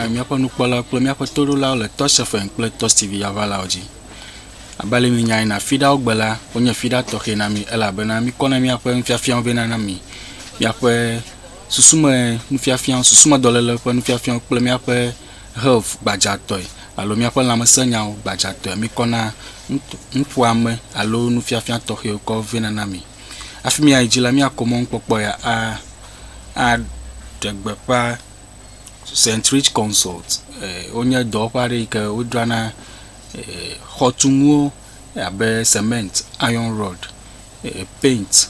na míaƒe nukpɔla kple míaƒe toɖolawo le Touch FM kple Touch TV yavalawo dzi. Abe ale minyae na fiɖawo gbe la, wonye fiɖa tɔxɛ na mi elabena mikɔ na míaƒe nufiafiawo vɛ na mi, míaƒe Susumenufiafia, susumedɔléle ƒe nufiafia kple míaƒe health gbadzatɔe alo míaƒe lãmesẽnyawo gbadzatɔe mikɔna nuƒoame alo nufiafia tɔxɛwo kɔ vɛna na mi. Hafi míayi edzi la, míakɔ mɔnukpɔkpɔ ya aɖe gbeƒã St. Rich Consult. Wonye dɔwɔƒe aɖe yi ke wodzrana xɔtunuwo abe cement, iron rod, paint.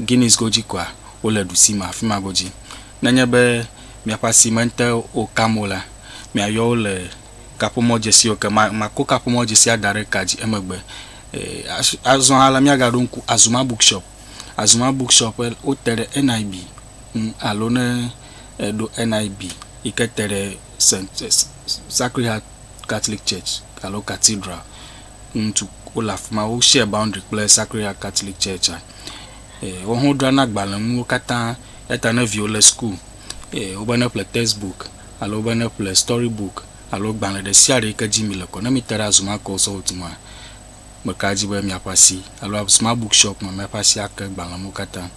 Guinness godzi koa, wole ɖusi me afi ma godzi. Nenye be miaƒe asi mete wo kam o la, miayɔ wo le kaƒomɔdzesiwo ke. Ma, makɔ kaƒomɔdzesia da ɖe ka dzi emegbe. E, as, azɔ hã la, míagaɖo ŋku Azuma Bookshop. Azuma Bookshop, e, wote ɖe NIB ŋu, alo ne èɖo NIB yi ke te ɖe Saint, e, Sacred Heart Catholic Church alo Cathedral, ŋutsu wole afi ma. Wo share boundary kple Sacred Heart Catholic Church-a. Ee, woawo hã wodrana agbalẽnuwo katã. Eya ta ne viwò le school, ee, wobe ne ƒle text book alo wobe ne ƒle story book alo gbalẽ ɖe sia ɖe yi ke dzi mile kɔ, ne mite ɖe Azuma Consulting ŋua, meka ɖe edzi be miaƒe asi alo Azuma Book Shop me miaƒe asi ake agbalẽnuwo katã.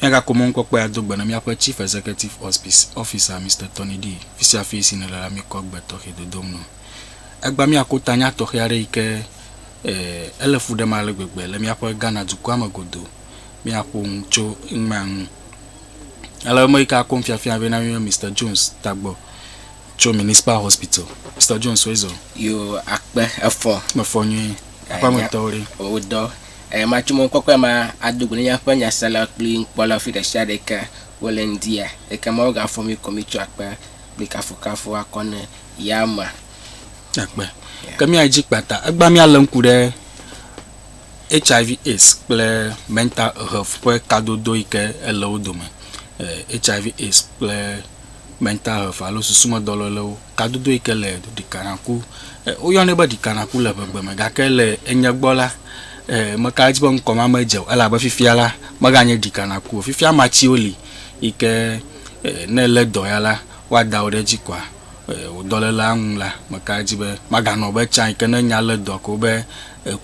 Míagakɔ mɔnukpɔkpɔe ado gbe na míaƒe Chief Executive Officer, Mister Tony Dee, fisiafi si nèle la, míkɔ gbe tɔxɛ dodom nɔ. Egbea míakpɔ tanya tɔxɛ aɖe yi ke ele fu ɖem ale gbegbe le míaƒe Ghana dukɔa me godoo. Míaƒo nu tso emea ŋu. Ale ame yi ke akɔ nufiafia vɛ na mí be Mister Jones tagbɔ tso Municipal Hospital. Mister Jones, woe zɔ. Yo akpe efɔ. Mefɔ nyuie. Aƒe ametɔwo ɖe? Wodɔ. Eye matso mɔ kpɔkpɔe ma ado go ne míaƒe nyaselawo kple nukpɔlawo le afi ɖe sia ɖe yi ke wole ŋdia. Ekema wogafɔ mí ko mitsɔ akpe kple kafukafu akɔ ne ya ma. Akpe. Ke mía dzi kpata egbea mía le ŋku ɖe HIV AIDS kple mental health ƒe kadodo yi ke ele wo dome. HIV eh, AIDS kple mental health alo susumedɔlélewo kadodo yi ke le ɖikanaku eh, woyɔnɛ be ɖikanaku le ʋegbe me gake le enye gbɔ la eh, meka edzi be ŋkɔ ma medze o elabe fifia la meganye ɖikanaku o fifia matsiwo li yi ke ne lé dɔ ya la woada wò ɖe edzi kɔa? Wò dɔlélea ŋu la, meka ɖe edzi be maganɔ be tsã yi ke ne nya lé dɔa ko be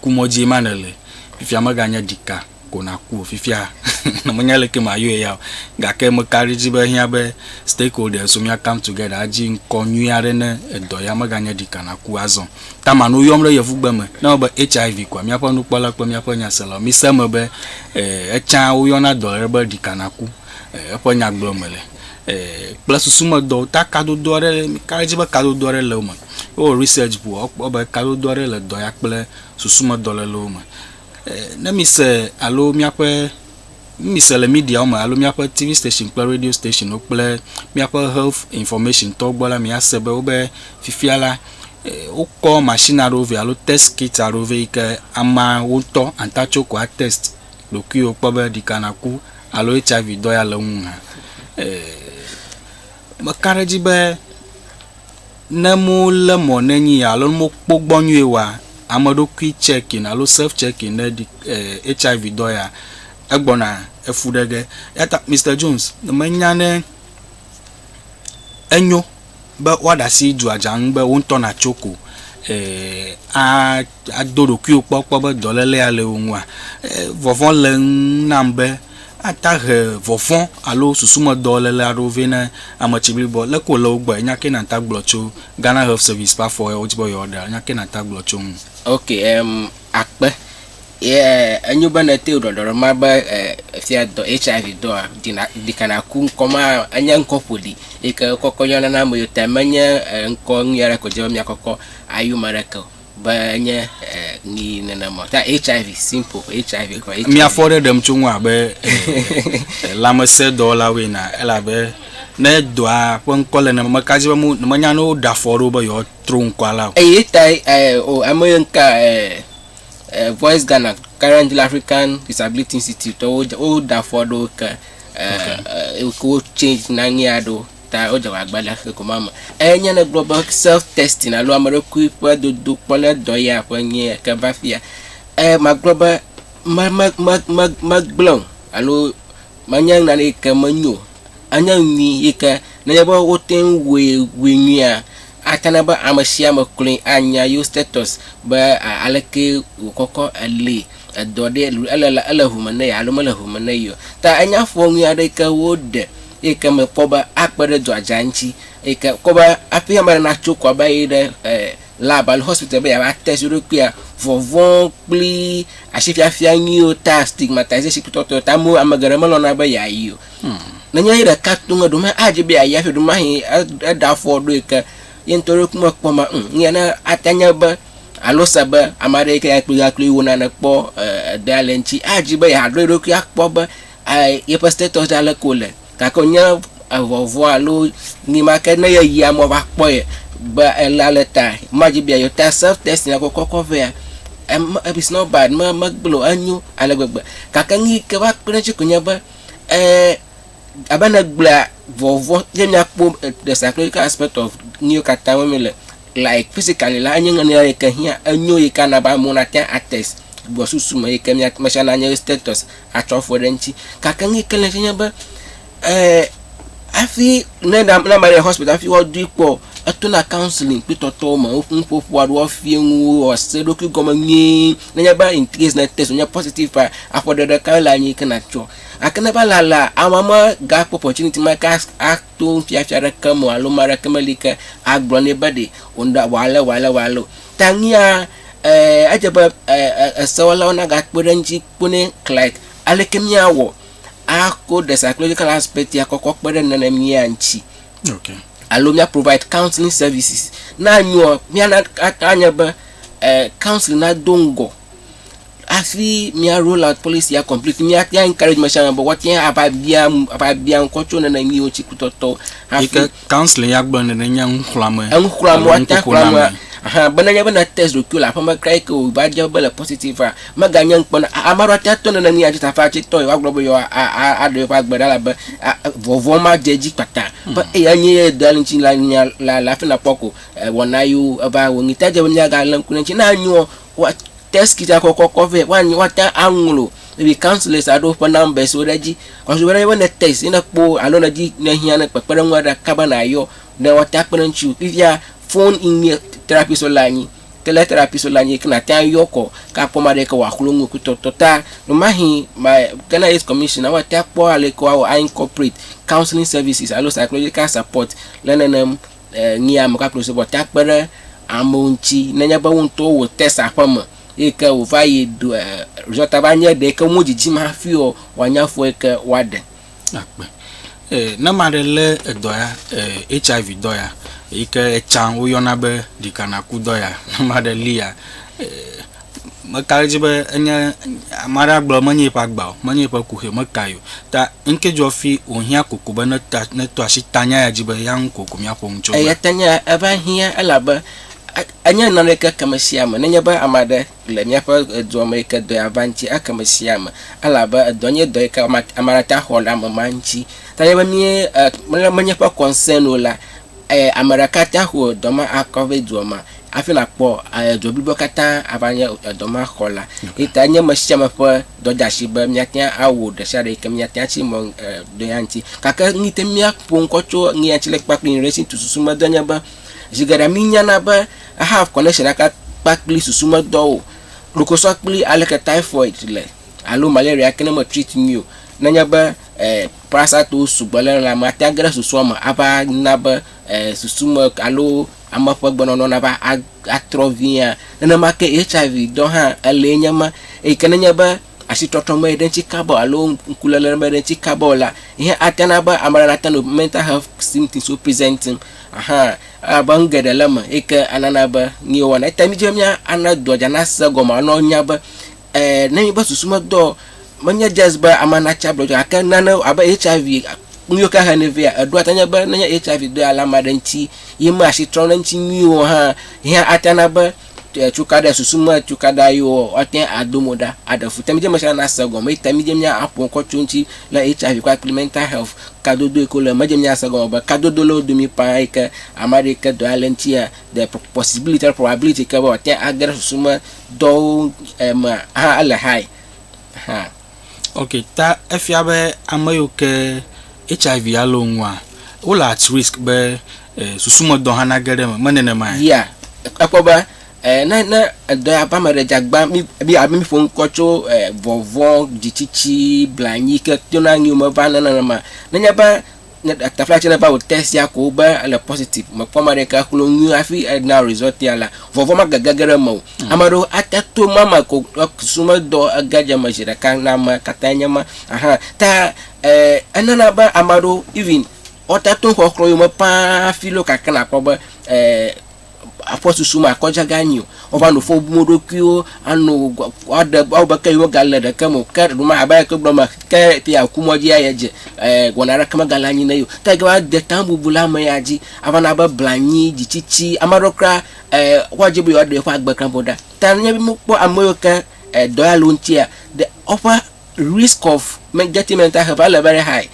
kumɔdzie ma nèle. Fifia meganye ɖika ko nàku o. Fifia ne menye aleke mayɔe ya o, gake meka ɖe edzi be ehiã be stakeholders wo míakam together adzi ŋkɔ nyui aɖe ne edɔ ya meganye ɖika nàku azɔ. Taman woyɔm ɖe yevugbe me ne ewɔ be HIV kɔa? Míaƒe nukpɔla kple míaƒe nyaselawo, mise eme be etsã woyɔna dɔ aɖe be ɖika nàku. Eƒe nyagblɔme le. kple susumedɔ ta kadodo aɖe ka edzi be kadodo aɖe le wo me. Ne wowɔ research ŋu woakpɔ be kadodo aɖe le dɔ ya kple susumedɔ le le wo me. Ne mise alo míaƒe ne mise le mediawo me alo míaƒe TV station kple radio stationwo kple míaƒe health information tɔwo gbɔ la miase be wobe fifia la wokɔ machine aɖewo vɛ alo test kit aɖewo vɛ yi ke ameawo ŋutɔ ata tsɔ ko atest ɖokuiwò kpɔ be ɖika nàku alo HIV dɔ ya le ŋu hã. Meka ɖe edzi be ne molé mɔ ne nyi ya alo ne mokpɔ gbɔ nyuie oa, ameɖokui checking alo self checking ɖe ɖi eh HIV dɔ ya egbɔna efu ɖe ge. Eyata Mister Jones, menya ne enyo. be woaɖe asi dua dza ŋu be wo ŋutɔ nàtso ko ado ɖokuiwò kpɔ kpɔ be dɔléle ya le wò ŋua? Vɔvɔ̃ le eŋu nam be ate he vɔvɔ̃ alo susumedɔléle aɖewo vɛ na ame tsiblibɔ. Leke wòle wo gbɔe? Nya kae nàte ŋu agblɔ tso Ghana Health Service ƒe afɔ yawo dzi be yewoaɖe? Nya kae nàte ŋu agblɔ tso eŋu? Ok, em, akpe Ye enyo be ne ete ŋu ɖɔɖɔ ɖe mɔ be efia dɔ HIV dɔa dina ɖikana ku ŋkɔ ma enye ŋkɔ ƒoɖi yi ke kɔkɔ yɔna na ame yiwo ta menye ŋkɔ nyui aɖe ko dzi be miakɔkɔ ayu ame aɖeke o be enye nyi nenema o. Ta HIV simple HIV ko HIV. Miafɔ ɖe ɖem tso ŋu abe lãmesẽdɔwɔlawoe na elabe ne dɔa ƒe ŋkɔ le ne meka dzi be mo menya ne woɖe afɔ ɖe wo be yewoatro ŋkɔa la o. Eye tae o ame yiwo ŋka Voice Ghana, currently le African Disability Institute tɔwo dze- woɖe afɔ aɖewo ke eh, eh, ke wo change na nyɛ aɖewo ta wodze agbagba le xexɔ ma me. Enye ne gblɔ be self testing alo ame ɖokui ƒe dodo kpɔ ne dɔ ya ƒe nyɛ ke va fia. Eh, magblɔ be me- me- me- me- megblẽ o alo menye nane yi ke menyo o. Enye nyui yi ke nenye be wote ŋu wui wui nyuia, ate na be ame sia ame kloe anya yewo status be aleke wòkɔkɔ, eli, edɔ ɖee, ele la, ele ŋu me na ye alo mele ŋu me na ye o. Ta enye afɔ nyui aɖe yi ke woɖe eyi ke me kpɔ be akpe ɖe dɔa dza ŋuti eyi ke kpɔ be hafi ame aɖe natso kɔ ava yi ɖe e lab alo hospital be yeava test eɖokuia, vɔvɔ̃ kpli asifiafia nyuiwo ta, stigmatization kple tɔtɔewo ta, amewo, ame geɖe melɔ̃na be yeayi o. Nenye eyi ɖeka to ŋe ɖo me adzi be ayi afi ɖo mahi eɖe afɔ ɖo yi ke ye ŋutɔ ɖo kume kpɔ ma ŋ ŋyɛ ne ate nye be alo se be ame aɖe yi ke yakpli yakpli wo nane kpɔ edea le ŋtsi adzi be yeaɖo eɖokui akpɔ be yeƒe status ɖe aleke wòle gake wònye evɔvɔa alo ni ma ke ne yeyi amewo va kpɔ ye be ele ale ta madzi be yeayi o ta self testing ya kɔkɔ kɔ vea em it's not bad me megblɔ o enyo ale gbegbe gake nu yi ke va kpe ɖe eŋtsi koe nye be Eee, abe ne gblea vɔvɔ ye miakpɔ the psychological aspect of nuwo katã wo mi le like physically la enye ŋunya yi ke hiã enyo yi ke ana be amewo nate ates gbɔ susu me yi ke mia me sia nanye status atsɔ afɔ ɖe eŋuti gake nu yi ke le edzi nye be eee hafi ne na ne ame le hospital hafi woadui kpɔ etona counselling kpli tɔtɔwo me woƒe nuƒoƒo aɖewo woafia nuwo wòase eɖokui gɔme nyuie. Nenye be in case ne test wònye positive paa, aƒe ɖe ɖe kae le anyi ke nàtsɔ. Gake ne va lalea, amea megakpɔ opportunity ma ke as, ato nufiafia aɖeke me o alo ame aɖeke meli ke agblɔ nɛ be ɖe wòna wɔ ale wɔ ale wɔ ale o. Ta nuya, e, edze be e, e, esewɔlawo nagakpe ɖe eŋuti kpɔ nɛ like aleke míawɔ ako the psychological aspect ya kɔ kɔ kpe ɖe nenemia ŋuti. Okay. Alo mía provide counseling services. Ne anyoa, míana, ate anye be Council na do ŋgɔ hafi mía role and policy a complete mía mía encourage me sia me be woate ŋu ava bia ava bia ŋkɔ tso nene nyuiwo ŋuti kpɔtɔtɔ hafi. Yike council ya gblɔ nene nye nuxlɔame. Enuxlɔame woate ŋu xlɔame hã be nenye be na test ɖokuiwo le aƒeme kura yike wò va dze be le positive a meganye ŋkpɔ na ame aɖewo ate ŋu ato nene nyuia dzi ta hafi atsi tɔ yewoa gblɔ be yewo a a aɖe yewoƒe agbe ɖa elabe vɔvɔ̃ ma dze edzi kpata be eya nye ye dɔ ŋuti la nya la le hafi nakpɔ ko. Wɔna yiwo eva wɔ ŋutɔ dze be míagalé ŋku ɖe eŋuti. Ne anyoa, woa test kit a kɔkɔ kɔ vɛ. Woanyo woate ŋu aŋlɔ maybe councillors aɖewo ƒe numbers wo ɖe edzi. Ewɔ be ne ne test ye ne ekpɔ alo ne edzi ne ehiã ne kpekpeɖeŋu aɖe kaba nayɔ ne woate ŋu akpe ɖe eŋuti o. Fifia phone in nye therapist wo le anyi. Ke lé therapist wo le anyi ke nàte ŋu ayɔ kɔ ke akpɔ ame aɖe yi ke wòaxlɔ̃ nu ku tɔtɔ ta. Vemahe ma Ghana Aids Commission a woate ŋu akpɔ ale yi ke woawɔ a incorporate counselling services alo psychological support le nenem Ŋee ame kpakple subɔta kpe ɖe amewo ŋuti nenye be wo ŋutɔwo wò test aƒeme eyi ke wòva yi do e result va nye ɖee ke wo dzidzim hafi o wòanye afɔ yi ke woaɖe. Akpe. E ne ame aɖe lé edɔ ya e HIV dɔ ya eyi ke etsã woyɔna be ɖikanaku dɔ ya ne ame aɖe lia e. Meka ɖe edzi be enye ame aɖe agblɔ menye eƒe agba o, menye eƒe kuxi o, meka yi o. Ta ŋke dzɔ fi wòhiã koko be neta, neto asi ta nya ya dzi be ya ŋu koko míaƒo nu tso eme. Eya ta nya ya eva hiã elabe e, enye nane yi ke ke ame sia ame, nenye be ame aɖe le míaƒe edua me yi ke dɔ ya va ŋuti, eke ame sia ame. Elabe edɔ nye dɔ yi ke ame, ame aɖe ate ŋu axɔ le ame ma ŋuti. Ta nenye be míe e, menye eƒe concern o la, eh, ame ɖeka ta xɔ dɔ ma akɔ vɛ dua ma afi na kpɔ eh, dɔ blibo katã ava nye eh, dɔ ma xɔ la. Yi ta nye me sia me ƒe dɔ da asi be míatia awɔ ɖe sia ɖe yi ke míatia si mɔ eh, dɔ ya ŋuti. Gake nu yi te míaƒo ŋkɔ tso nu ya ŋuti le kpakple nuɖesi tu susu me dɔ nye be zi geɖe mi nyana be I have connection ɖeka kpakple susu me dɔ o. Ɖokosɔ kple aleke typhoid le alo malaria ke ne me treat mi o. Nenye be eh, Prasatowo sugbɔ le lãme ate age ɖe susua me ava na be susu me alo ame ƒe gbenɔnɔ nava atrɔ viaa. Nenema ke HIV dɔ hã elee nye ma eyi ke nenye be asitrɔtrɔ meyi ɖe eŋuti kaba o alo ŋkuléle meyi ɖe eŋuti kaba o la, yi hã ate na be ame aɖe nate nɔ mental health symptoms wo presenting ahan elabe nu geɖe le eme eyi ke anana be nu yewo wɔna. Eyi ta mí dzi be míana dua dzi anase egɔme ana wonya be Ɛ̃, ne míeƒe susu medɔ o, menye just be ame natsi agblɔ dzi o, gake nane abe HIV nu yiwo ke hene vɛ, eɖewo ate ŋu anye be ne nye HIV dɔe ale ame aɖe ŋuti ye mea asi trɔm ɖe eŋuti nyuie o hã, ye hã ate ŋu ana be cukaɖa, susu me cukaɖa yewo woate ŋu ado mo ɖa aɖe fu. Te midzeme sia nase gɔme eye te midze míaƒo nu kɔ tso eŋuti le HIV kpakple mental health kadodo yi ke wole eme. Medze míase gɔme be kadodo le wo domi ƒãa yi ke ame aɖe yi ke dɔe ale ŋutia, the possibility alo probability yi ke be wòate ŋu age ɖe susu me dɔwo me hã ele high hã. Ok, ta efia be ame yiwo ke HIV ya le wo ŋua, wole at risk be eh, susumedɔ hã nage ɖe eme, menenema? Yea, ekpɔ be eh, ne ne edɔ ya va ame ɖe dzagba, mi mi abe mi ƒo ŋkɔ tso eh, vɔvɔ̃, dzitsitsi, blanyi ke tona ŋuiwo me va nenema. Nenye be ne tafla tse neva wò test ya ko be ele positive mekpɔ ame aɖeke aklo nu nyuie hafi ena result ya la vɔvɔ magege ge ɖe mewò mm. ame aɖewo ate to ma me ko sumedɔ ege dze me zi ɖeka na ame katã nye ma aha ta eh, enana be ame aɖewo even wɔte to xɔxlɔ yome paa hafi lo kakena kpɔ be eh, aƒe susu me akɔ dza ganyi o. Wova nu fɔ bum wo ɖokuiwo ano woaɖe woawɔ be ke yewo gale ɖeke me o. Ke ɖe ma abe ale ke wogblɔ mea ke te yeaku mɔ dzi ayi dze e wɔna aɖeke megale anyi na ye o. Ke va de ta bubu le ame ya dzi ava na be blanyi, dzitsitsi ame aɖewo kura e woadi be yewoaɖe yewoƒe agbe kura ƒo ɖa. Ta ne míkpɔ ame yiwo ke e dɔ ya le wo ŋutia ɖe woƒe. risk of me getting mental help ale very high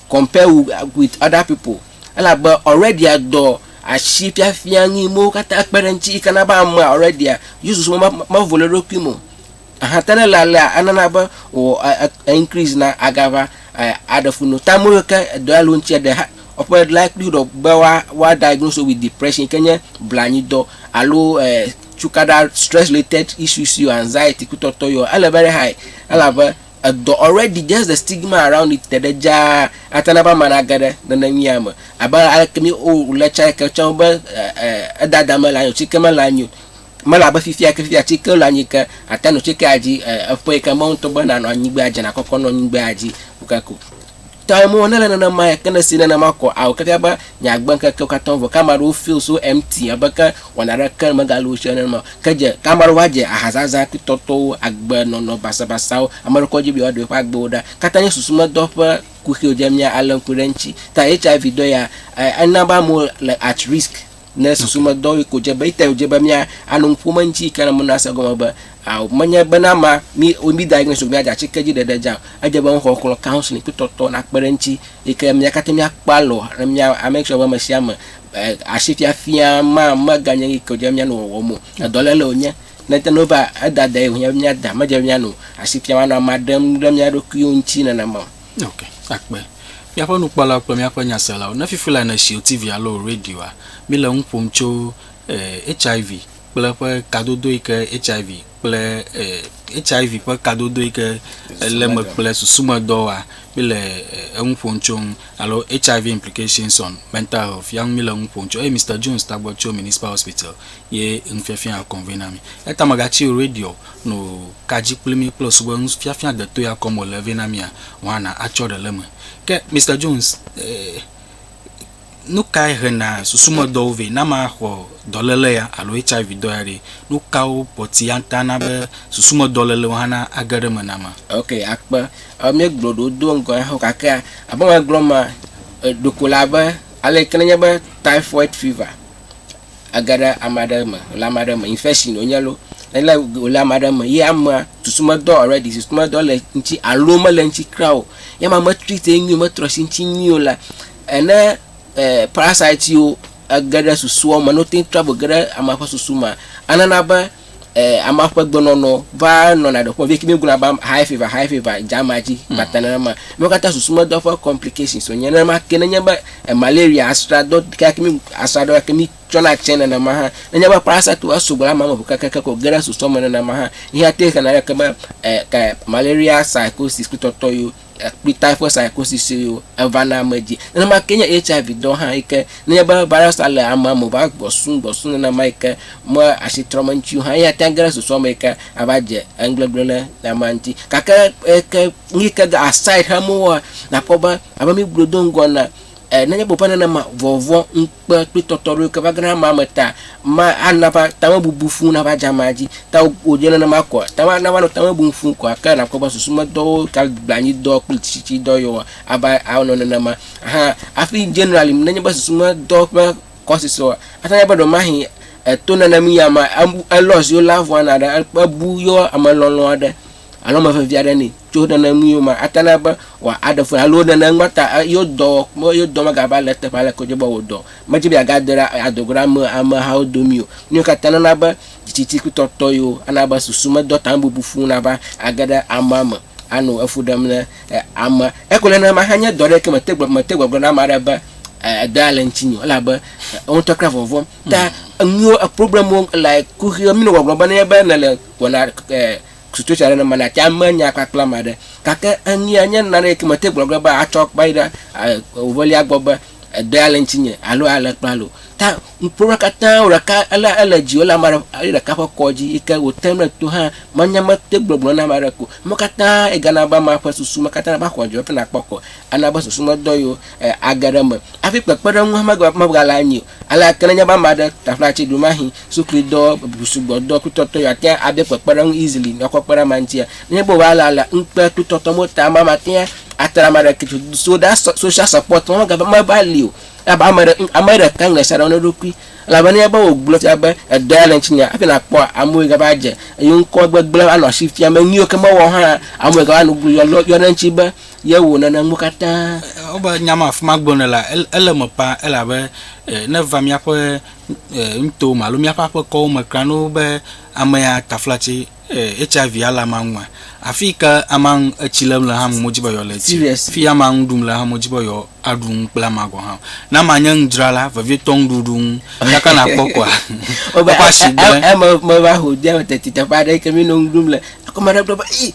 compare wu with other people elabe already dɔ asi fiafia nu yi mewo katã kpe ɖe ŋuti yi ke na be amea already yewo susu me mevo le eɖokui me o. Aha te ne le alea enana be wò e increase na agava e aɖe fu no. Ta ame yiwo ke edɔ ya le wo ŋutia ɖe ha woƒe likelihood of be woa woa diagnose wo with depression yi ke nye blanyidɔ alo e. Cukaɖa Stress-Related Issues yɔ, Anxiety, kutɔtɔ yɔ, ele very high elabe edɔ already, just the stigma around it te ɖe dzaa ate na be ame nage ɖe neneŋia me. Abe aleke mí o le tsã ke tsã be edada mele anyi o, tsike mele anyi o, mele abe fifia ke fifia tsike le anyi ke ate nɔ tsike adzi eƒe yi ke Mawu ŋutɔ be nanɔ anyi gbea dzi, nakɔkɔ nɔ anyi gbea dzi o kake o. Tɔe mo nele nenema ya ke ne si nenema kɔ ao keke be nyagbe ŋkekewo katã vɔ ke ame aɖewo feel so empty abe ke wɔna ɖeke megale wo si ene nenema o ke dze ke ame aɖewo va dze ahazazã kple tɔtɔwo agbe nɔnɔ basabasawo ame aɖewo kɔ dzi be yewoa ɖe yewoƒe agbewo ɖa katã nye susu medɔ ƒe kuxi o dze mía ale ŋku ɖe eŋuti ta HIV dɔ ya ena be amewo le at risk Ne susu me dɔ yi ko dze be ete dze be mía ano nu ƒom eŋuti yi ke na mena se gɔme be ao menye be na ma mi o mi da so mía dza tsi ke dzi ɖeɖe dza o. Edze be ŋxɔ xlɔ counseling kple tɔtɔ na kpe ɖe eŋuti yi ke mía kate mía kpɔ alɔ ne mía make sure be ame sia ame asi fiafia ma me ga nye nu yi ke dze be mía nɔ wɔwɔm o. Edɔ le le wo nye. Ne te no va eda da ye wo nye mía da me dze mía nu asi fiam anɔ ama ɖem ɖe mía ɖokuiwo ŋuti nenema o. Ok, akpe. Míaƒe nukpɔlawo kple míaƒe nyaselawo, ne fifi lae nèsi wò TV alo wò radioa, míle nu ƒom tso eh, HIV kple eƒe kadodo yi ke HIV kple eh, HIV ƒe kadodo yi ke lé me kple susumedɔ wɔa. Míle eh, enu ƒom tso ŋu alo HIV implications on mental health ya ŋu míle nu ƒom tso eye Mister Jones tagbɔ tso Municipal Hospital ye nufiafia kɔnvena mí. Eya ta mègatsi wò radio no. Ka dzi kple mí kple subɔe ŋu fiafia detoe akɔm wòle vɛ na mía? Juana atsɔ ɖe le eme. Ke Mister Jones, nu kae hena susumedɔwo vɛ? Ne amea xɔ dɔléle ya alo HIV dɔ ya ɖe, nu kawo pɔti ate ŋu ana be susumedɔlélewo hã nage ɖe eme na amea? Ok, akpe. Míegblɔ ɖewo do ŋgɔ ya hã gake abe alesi megblɔ ema, ɖeko le abe aleke ne enye be typhoid fever. age ɖe ame aɖe me wòle ame aɖe me infection wònye loo ele wòle ame aɖe me ye amea susu medɔ already susu medɔ le eŋuti alo mele eŋuti kura o ye amea me treat ye nyuie o metrɔ asi eŋuti nyuie o la ne e parasite yiwo ege ɖe susua me ne wote ŋu travel ge ɖe amea ƒe susu mea enana be. eh, ama ƒe gbenɔnɔ va nɔna ɖe ƒe vie kimi gblɔna ba high fever high fever jama dzi hmm. bata nenema mi kata susu me dɔ ƒe complications so nye nenema ke nenye be eh, malaria asra dɔ ka kimi asra dɔ kimi tsɔna tsɛ nenema ha nenye be parasite wa so gblɔna mamu ke ke ko gena susu me nenema ha ihe te kana ke be eh, ka malaria psychosis kutɔtɔ yo akpita ƒe saɛkosisiwo evana ame dzi. Nenema ke nye HIV dɔ hã yi ke nenye be virus la le amea me va gbɔsum gbɔsum nenema yi ke me asi trɔm eŋuti o hã eya tea ŋu ge ɖe susua me yi ke ava dze enugbegblẽ ɖe le amea ŋuti. Gake eke nu yi ke aside xem wowɔa nakpɔ be abe mígblɔe do ŋgɔ enea E, nenye be wòƒe nenema vɔvɔ̃, ŋukpe kple tɔtɔɖoɖoke va gena amea me ta, ma ana va tamebubu fu nava dze amea dzi. Ta wo, wònye nenema koa? Ta ma, nava nɔ tamebubu fu koa? Ke nakpɔ be susumedɔwo, tagblanydɔ kple tsitsitsidɔ yewoa, ava anɔ nenema. Hã, hafi generally, nenye be susumedɔ ƒe causes oa, ate ŋu anye be ɖewɔmahi e, to nenemii amea, ebu, elɔ ziwo lé avu ana ɖe, ebu yewo amelɔlɔ̃ aɖe. alo ame vevi aɖe nɛ tso nene nu yewo me ate na be wɔ aɖe fue alo nene nua ta yewo dɔ me yewo dɔ mega va le teƒe ale ko dze be wò dɔ me dze be aga de ɖa ado go ɖa ame amehawo domi o nyo kata nana be titi ku tɔtɔ yo ana be susu me dɔ tan bubu fu na va age ɖe ama me ano efu ɖem ne ama eko nene ma hanye dɔ ɖe ke me te gbe me te gbe gbe na ma ɖe be edɔ ale ŋutsi nyo ela be ŋutɔ kra vɔvɔ ta enuwo e problem wo like kuxi mi no gɔgɔn be ne be ne le wɔna Situation aɖe ne mele ati ame nya kpakple ame aɖe gake eŋea nye nane yike mete gblɔ ge be atsɔ kpe yi ɖe evelia gbɔ be edea le ŋutinye alo ale kple ale o. Ta ŋkpɔnua katã wò ɖeka ele ele dzi ele ame aɖe eya ɖeka ƒe kɔ dzi yike wòtem ɖe to hã manya mete gblɔ gblɔ na ame aɖe ko. Eme katã yi gana be amea ƒe susu me katã va xɔ dzi hafi nakpɔ kɔ. Ana be susu me dɔ yewo age ɖe eme hafi kpekpeɖeŋu hã megale anyi o. Alea ke nenye be ame aɖe taƒlaci ɖomahĩ sukluidɔ sugbɔdɔ klutɔtɔ ya tea ade kpekpeɖeŋu easily nakɔ kpe ɖe amea ŋutia. Nenye be wòva le alea ŋukpe klutɔtɔ mo ta amea matea atra ame aɖeke to so ɖa sɔ social support ma mega meva li o elabe ame ɖe ame ɖeka ŋlɔ sia ɖe na eɖokui elabe nenye be wògblɔ fia be edɔ ya le ŋutinye hafi nakpɔ amewo yi gava adze eyo ŋkɔ gbegblẽ anɔ asi fiam be nuyiwo ke mewɔ hã amewo yi gava nu yɔ yɔ ɖe eŋuti be Ye wò nana nuwo katã. Ewɔ abe nya ma afi ma gblɔ ne la, ele eme ƒã elabe ne va míaƒe nutowo me alo míaƒe aƒekɔwo me kura ne wobe amea taflatse HIV ale amea ŋua, afi yi ke amea ŋu etsi lém le hã ame medzi be yeale etsi o. Afi yi amea ŋu ɖum le hã medzi be yeaɖu nu kple amea gɔ̃ hã o. Ne amea nye nudzrala vevietɔ nuɖuɖu ŋu tsaka nàkpɔ koa, eƒe asigble. Eme meva ho de teti teƒe aɖe yi ke mí nɔ nu ɖum le, ekema ɖe gblɔ be, Ii!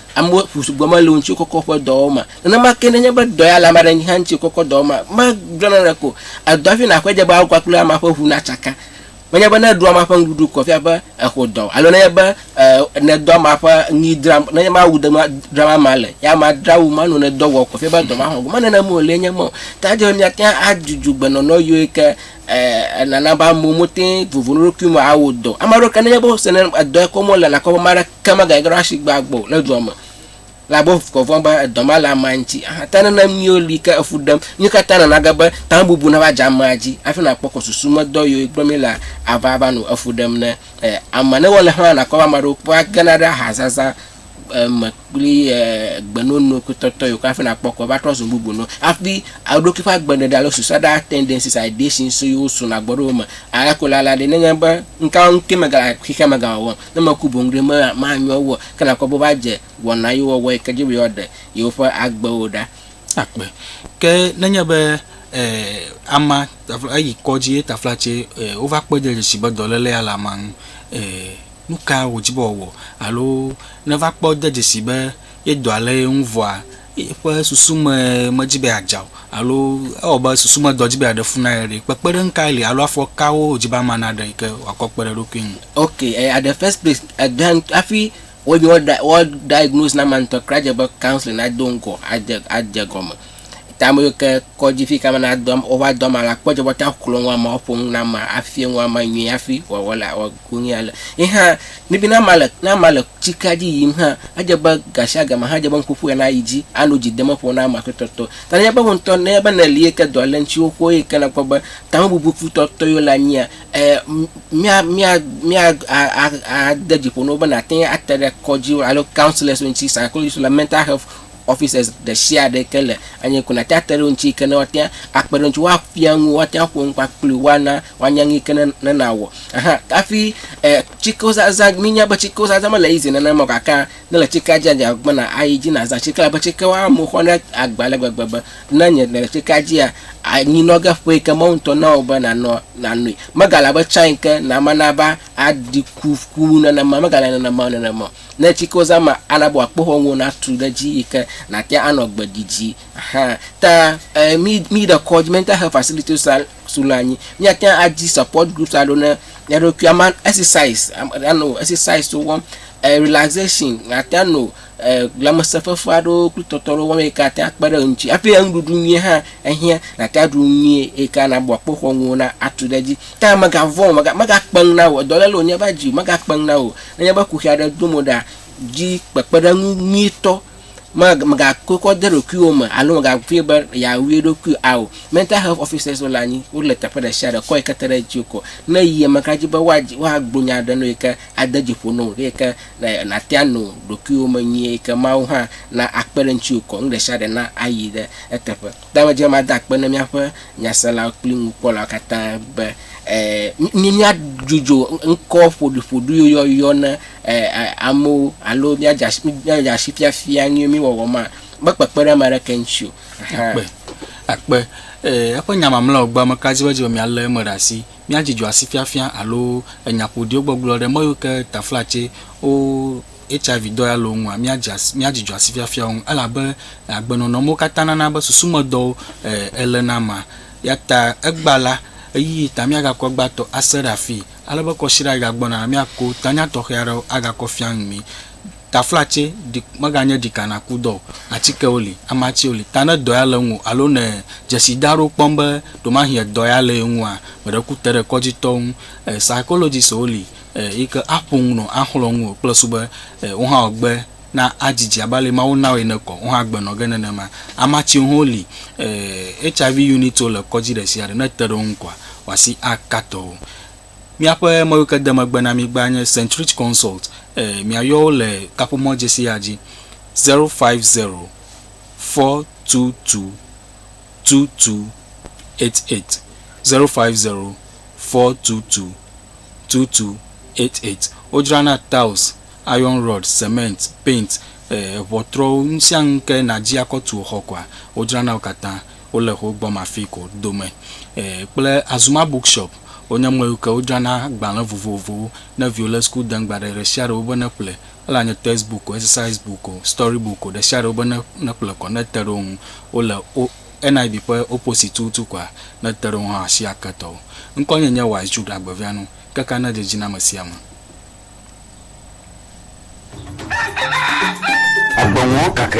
Amewo ƒu sugbɔ mele wò ŋuti wokɔkɔ woƒe dɔwɔwɔ ma. Nenema ke nenye be dɔ ya le ame aɖe ŋuti hã ŋuti wokɔkɔ dɔwɔwɔ ma, megblẽ naneke o. Edɔ hafi nàxɔe dze be awɔ kpakple amea ƒe ŋu natsaka. Menye be ne èɖo amea ƒe nuɖuɖu ko efia be èxɔ dɔ o alo nenye be e nèdɔ amea ƒe nui dram nenye be awu dem dram amea le ye amea dzra awu ma nɔ nèdɔ wɔm ko efia be dɔ ma xɔ go. Menye nenema o, lee nye eme o. Ta edze be mía ŋuti hã adzudzugbe nɔnɔ yio yi ke ɛɛ nana be amewo mete ŋu vovo ɖe wo ɖokui me awɔ dɔ o. Ame aɖewo ke nenye be wose ne edɔ yi ke wɔm wole le akpɔ be ame aɖeke megage ɖe wo asi gbɔ agbɔ o le dɔa me la be wokɔ vɔ̃ be edɔ ma le amea ŋuti. Aha ta nana miwo li ke efu ɖem. Nuwo ka ta nana ge be tamebubu nava dze amea dzi hafi nakpɔ kɔ susu me dɔ yiwo gblɔm míele ava va nɔ efu ɖem ne e amea. Ne wole hã nakpɔ be ame aɖewo kpɔa gena ɖe ahazaza eme kple egbenono kple tɔtɔ yiwo ke hafi nakpɔ kɔ va trɔ zu nu bubu nɔ hafi eɖokui ƒe agbeɖeɖe alo suicidal tendencies and ideations yiwo suna gbɔ ɖe wo me. Eya ko la la ɖe nenye be ŋka ŋkee megale xexea me gawɔwɔm, ne meku boŋ ɖe me manyo wu o. Ke nakpɔ be wova dze wɔna yiwo wɔwɔ yi ke dzi be yewoaɖe yewoƒe agbewo ɖa akpe. Ke nenye be e amea eyi kɔdzi ye taflatse e wova kpɔe ɖe dzesi be dɔlélea le amea ŋu e. Nu ka wòdi be wòawɔ alo neva kpɔ de dzesii be ye dɔa lé ye ŋu vɔa, eƒe susu me medzi be yeadza o alo ewɔ be susu me dɔ dzi be yeaɖe fu na ye ɖe? Kpekpeɖeŋu kae li alo afɔ kawo wòdzi be amea naɖe yi ke wòakɔ akpe ɖe eɖokui ŋu? Ok, e, at the first place, egã ŋutɔ, hafi wɔ nyi wɔ, wɔ diagnose na amea ŋutɔ kura dze be counseling ado ŋgɔ adze, adze egɔme. Ta ame yiwo ke kɔdzi fi yi ke amea nado, wova do amea la, kpɔ dze be woate ŋu axlɔ̃ nu amea, woaƒo nu na amea, afia nu amea nyuie hafi wòawɔ la, wɔ. konye ale. Ye hã, míebe ne amea le, ne amea le tsikea dzi yiyim hã, edze be gasiagame hã edze be nuƒoƒo ya nayi dzi ano dzidemeƒo na amea kpɔtɔtɔ. Ta nenye be wò ŋutɔ, nenye be nèli eye ke dɔ le ŋutiwò xoxo eye ke nèkpɔ be tamebubu kputɔtɔe wole anyia, e, mía, mía, mía a, a, a, ade dzi ƒo na wò be nàte ŋu ate ɖe kɔdziwo alo counselors ŋuti, psychologists alo mental health officers ɖesiaɖe yi ke le anyie ko nàte ŋu ate ɖe wo ŋuti yi ke ne woate ŋu akpe ɖe ŋutiwò, woafia nu wò, woate ŋu aƒo nu kpakple wò, woana Woanya nu yi ke ne nàwɔ hã. Hafi tsikozazã, mínya be tsikozazã mele easy nenema o gake ne èle tsikea dzia, dze agbagba be nàyi dzi nàzã tsike elabe tsikewo ame wo xɔna agba ale gbegbe be ne nye nèle tsikea dzia, anyi nɔ ge ƒe yi ke Mawu ŋutɔ na wò be nànɔ nànoe. Megale abe tsã yi ke nàma na be aɖi ku ku wu nenema o, megale nenema o nenema o. Ne tsikozã ma ana be wòakpe xɔŋwò natu ɖe edzi yi ke nàte anɔ gbe didi hã. Ta mí míyi ɖe kɔdzi, mental health facilities, srɔ̃a anyi. Míate ŋu adi support groups aɖewo ne mía ɖokui. Ame exercise ame aɖe anɔ exercise wɔm e relaxation ate ŋu anɔ e lãmesẽfefe aɖewo kple tɔtɔ aɖewo wɔm eyi ke ate ŋu akpe ɖe ŋuti hafi enuɖuɖu nyui hã ehiã nàte ŋu aɖu nu nyui eyi ke ana abɔ akpoxɔnu nuwo na atu ɖe edzi. Ke hã mègavɔ̃ o mega megakpe nu na wò o dɔléle wònye va dzi o megakpe nu na wò o. Nenye be kuxi aɖe dom wò ɖea, di kpekpeɖeŋu nyuitɔ Mag, mègakɔe kɔ de ɖokuiwò me alo mègavɔ̃e be yeawui eɖokui ao. Mental health officers wole anyi, wole teƒe ɖe sia ɖe, kɔ yi ke te ɖe dziwò ko. Ne yi eme kura dzi be woadzi, woagblɔ nya aɖe na wò yi ke ade dzi ƒo na wò eyi ke na, nàte ano ɖokuiwò me nyuie eyi ke Mawu hã na akpe ɖe ŋutiwò ko. Nu ɖe sia ɖe na ayi ɖe eteƒe. Ɖe medze be mada akpe na míaƒe nyaselawo kple nukpɔlawo katã be míadzudzɔ ŋkɔ ƒoɖiƒoɖiwoyɔyɔ na amewo alo míadze asi fiafia nu mí wɔwɔ ma mekpekpe ɖe ame aɖeke ŋuti o? Akpe. Akpe. Ee, eƒe nya mamlɛawo gbea ame ka dzi be edze be míalé eme ɖe asi, míadzudzɔ asi fiafia alo enya ƒoɖiwo gbɔgblɔ ɖe mɔ yiwo ke taflatsewo, HIV dɔ ya le wo ŋua, míadze asi, míadzi dzɔ asi fiafia wo ŋu, elabe agbenɔnɔ mewo katã nana be susumedɔwo e, le na ma. Eya ta egbea la, ɣeyiɣi ta míagakɔ egbea tɔ ase ɖe afii, ale be kɔsiɖa yi gagbɔna la, míako tanya tɔxɛ aɖewo agakɔ fia nu mí. Taflatse ɖi, meganye ɖika nàku dɔ o, atikewo li, amatsiwo li, ta ne dɔ ya le ŋuwò alo nèe dzesida aɖewo kpɔm be ɖewomahi edɔ ya le ye ŋua, meɖe ku te ɖe kɔdzitɔwo ŋu. E, psychologists-wo li, Eyi ke aƒo nu nɔ axlɔ̃ ŋu o kple su be wo hã wogbe na adzidzi abe ale Mawu na wo ene kɔ, wo hã agbe nɔ ge nenema. Amea tsiwo hã woli HIV unit-wo le kɔdzi ɖe sia ɖe ne te ɖe wo ŋu kɔa, wò asi aka tɔ wo. Míaƒe mewuikedemegbena-mi-gbea nye Saint Rich Consult. Miayɔ wo le kaƒomɔ̃dzesi ya dzi, zero five zero, four two two. two two eight eight zero five zero four two two two two eight eight. Wodzrana tiles, iron rod, cement, paint, eŋɔtrɔwo nusianu ke nadzi akɔ tu wò xɔ koa wodzrana wo katã. Wole xo gbɔ mafi ko dome kple Azuma book shop wonye mɔyiwo ke wodzrana gbalẽ vovovowo ne viwo le school dem gba ɖe ɖesiaɖe wobe ne ƒle Ele anye text book o, exercise book o, story book o, ɖesiaɖe wobe ne nekplɔe kɔ ne te ɖe wo ŋu wole o NIV ƒe opposite tututu koa ne te ɖe wo ŋu hã asi ake tɔwo. Ŋkɔnye nye Wise Jude Agbevianu, keke ne dzedzi na amesiame. Agbe ŋɔ kake